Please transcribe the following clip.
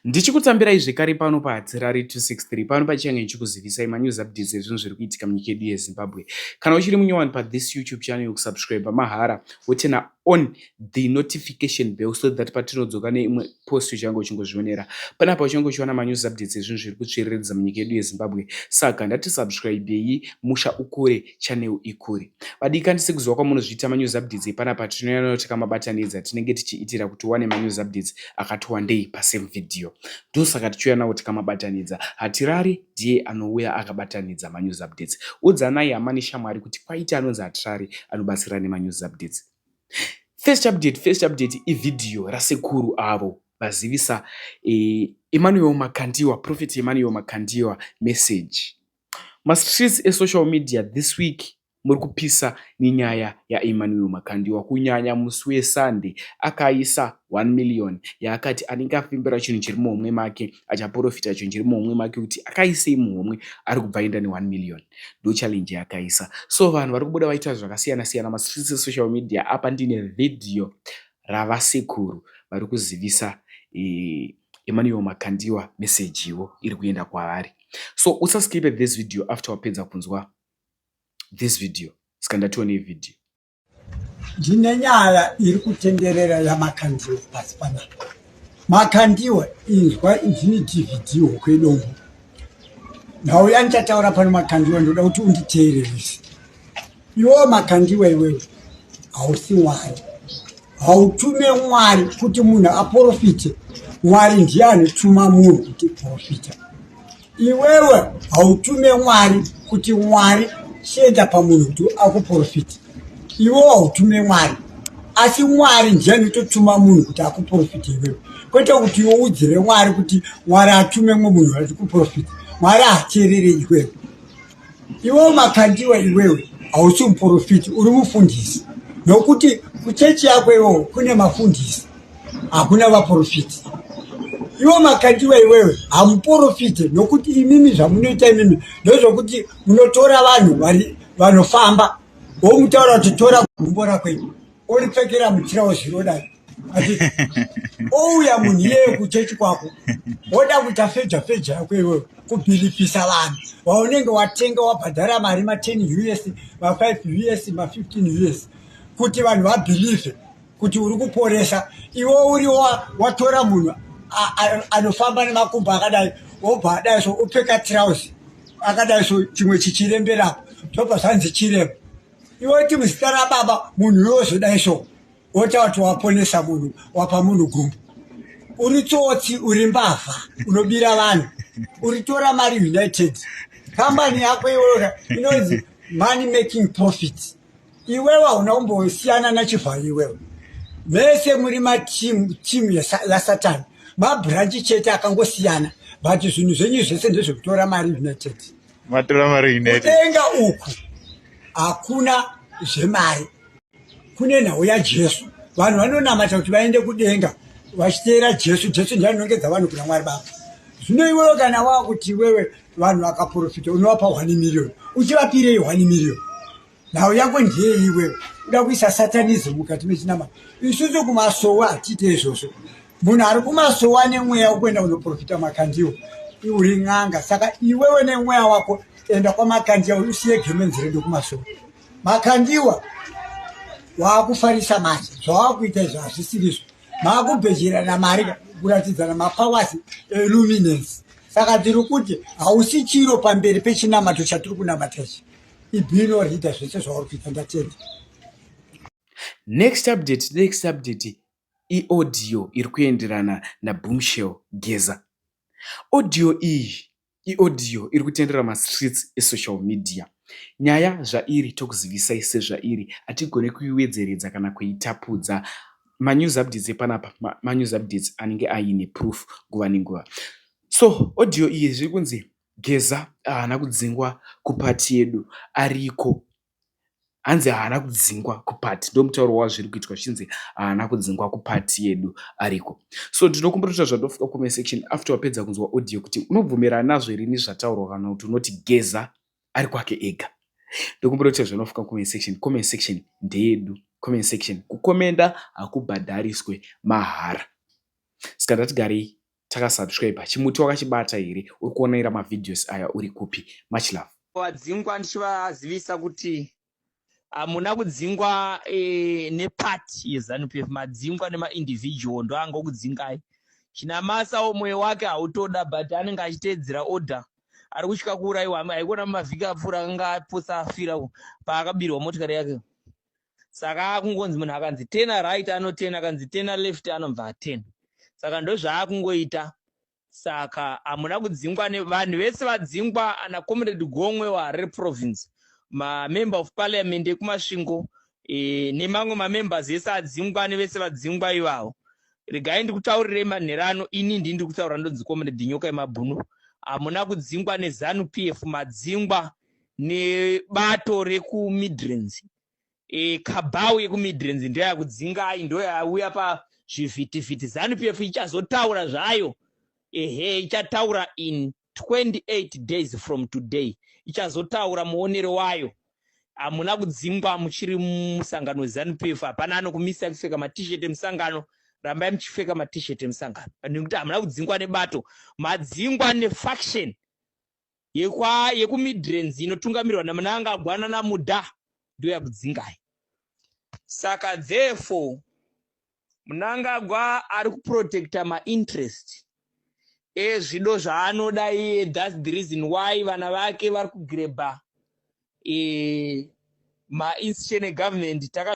Ndichikutambirai zvekare pano paHadzirari 263 pano pachange ndichikuzivisai manews updates ezvinhu zviri kuitika munyika yedu yeZimbabwe. Kana uchiri munyowani pathis YouTube channel yokusubscribe mahara wotena on the notification bell so that patinodzoka neimwe post uchange uchingozvionera. Panapa uchange uchiwana manews updates ezvinhu zviri kutsviriridza munyika yedu yeZimbabwe. Saka ndati subscribei musha ukure. channel ikure vadikani sekuziva kwamunozviita manews updates epanapa tinoyana kuti kamabatanidza tinenge tichiitira kuti wane manews updates akati wandei pasame video ndosaka tichiyana kuti kamabatanidza hatirari ndiye anouya akabatanidza manews updates udzanai hama neshamwari kuti kwaita anonzi hatirari anobatsira nemanews updates first update first update ividhiyo rasekuru avo vazivisa eh, emmanuel makandiwa prophet emmanuel makandiwa message Mastreets esocial media this week muri kupisa nenyaya yaEmmanuel Makandiwa kunyanya musi weSunday akaisa 1 million yaakati anenge afembera chinhu chiri muhomwe make achaporofita chinhu chiri muhomwe make kuti akaisei muhomwe ari kubva aenda ne1 million ndo challenge yaakaisa so vanhu vari kubuda vaita zvakasiyana siyana mastreets esocial media apa ndine vhidhiyo ravasekuru vari kuzivisa eh, Emmanuel Makandiwa message ivo iri kuenda kwavari. So usa skip at this video after wapedza kunzwa this video. Ska ndatione video. Ndine nyaya iri kutenderera yaMakandiwa pasi panapa. Makandiwa inzwa ndine DVD hoko yedombo. Ndauya ndichataura pano Makandiwa ndoda kuti unditeererese. Iwo makandiwa iwewe hausi mwari hautume mwari kuti munhu aporofite mwari ndiye anotuma munhu kuti profita iwewe hautume mwari kuti mwari chienda pamunhu kuti akuprofita iwewe hautume mwari asi mwari ndiye anototuma munhu kuti akuprofita iwewe kwete kuti iwoudzire mwari kuti mwari atume mwe munhu ati kuprofita mwari hateerere iwewe Iwewe makandiwa iwewe hausi muprofiti uri mufundisi nokuti kuchechi yako iwewe kune mafundisi hakuna vaprofiti. Iwo makandiwa iwewe hamuprofiti nokuti imimi zvamunoita imimi ndozvokuti munotora vanhu vanofamba womutaura kuti tora gumbo rako iwe. oripfekera mutirauzi rodai ouya munhu iyeyo kuchechi kwako woda kuita feja feja yako iweyo kubhilipisa vanhu waunenge watenga wabhadhara mari ma10 us ma5 us ma15 us kuti vanhu vabhilivhe kuti uri kuporesa iwe uri watora munhu anofamba nemakumbo akadai wobva adai so upfeka tirauzi akadai so chimwe chichiremberapo zvobva zvanzi chirembo iwe ti muzita rababa munhu yozodai so wotaura kuti waponesa munhu wapa munhu gumbu uri tsotsi uri mbavha unobira vanhu uritora mari united kambani yako iweoka inonzi money making profit iwewe hauna kumbosiyana nachivhayo iwewe mese muri matimu timu yasatani mabranchi chete akangosiyana but zvinhu zvenyu zvese ndezvekutora mari united matora mari ine kudenga uku hakuna zvemari kune nhau yajesu vanhu vanonamata kuti vaende kudenga vachiteera jesu jesu ndiye anonongedza vanhu kuna mwari baba zvino iwewe kana wava kuti iwewe vanhu vakaprofita unovapa one miriyoni uchivapirei one miriyoni nhau yako ndiyei iwewe uda kuisa satanism mukati mechinamata isusu kumasowo hatiite izvozvo munhu ari kumasowo ane mweya wokuenda kunoprofita makandiwo uri n'anga saka iwewe nemweya wako enda kwamakandiwa usiye gemenzi redu kumasowo makandiwa waakufarisa manje zvawaakuita izvo hazvisirizvo maakubhejerana mari kuratidzana mapawasi eluminance saka tiri kuti hausi chiro pamberi pechinamato chatiri kunamata ichi ibhini or ita zvese zvauri kuita ndatenda next update next update iaudio iri kuenderana naboomshell geza audio iyi iaudio iri kutendera mastreets esocial media nyaya zvairi tokuzivisai sezvairi hatigone kuiwedzeredza kana kuitapudza manews updates epanapa manews updates anenge aine proof nguva nenguva so audio iyi zviri kunzi Geza haana kudzingwa kuparty yedu ariko. Hanzi haana kudzingwa kuparty ndomutauro wazviri kuitwa zvichinzi haana kudzingwa kuparty yedu ariko. So ndinokumbira kuti zvatiri kufika kucomment section after wapedza kunzwa audio kuti unobvumirana nazvo here nezvataurwa kana kuti unoti Geza ari kwake ega. Ndokumbira kuti zvanofika comment section, comment section ndeyedu. Comment section, kukomenda hakubhadhariswe mahara. Ska ndatigarei takasubscriber chimuti wakachibata here uri kuonaira mavideos aya uri kupi much love vadzingwa ndichivazivisa kuti hamuna ah, kudzingwa e, nepati yezanup f madzingwa nemaindividual ndo anga okudzingai chinamasawo mwoyo wake hautoda but anenge achiteedzera order ari kutya kuurayiwa haikuona mumavhiki apfuura akanga apotsa afira paakabirwa motikari yake saka akungonzi munhu akanzi tena right anotena akanzi tena left anobva atena saka ndozvaakungoita saka hamuna kudzingwa vanhu vese vadzingwa ana comrade gomwe waharare province mamember of parliament ekumasvingo e, nemamwe mamembers ese adzingwa nevese vadzingwa ivavo regai ndikutaurirei manhero ano ini ndii ndiri kutaura ndonzi comrade nyoka yemabhunu hamuna kudzingwa nezanu p f madzingwa nebato rekuMidlands e, kabau yekuMidlands ndoyakudzingai ndoyauya pazvivhitivhiti zanu pf ichazotaura zvayo ehe ichataura in 28 days from today ichazotaura muonero wayo hamuna kudzingwa muchiri musangano wezanupf hapana anokumisa kupfeka matishet emusangano rambai muchipfeka matishet emusangano nekuti hamuna kudzingwa nebato madzingwa nefaction yekwa yekuMidlands inotungamirwa naMnangagwa nanaMuda ndoyakudzingai. Saka therefore Mnangagwa ari kuprotecta mainterest ezvido zvaanoda iye thats the reason why vana vake vari kugrebha e, mainstitution egovernment taka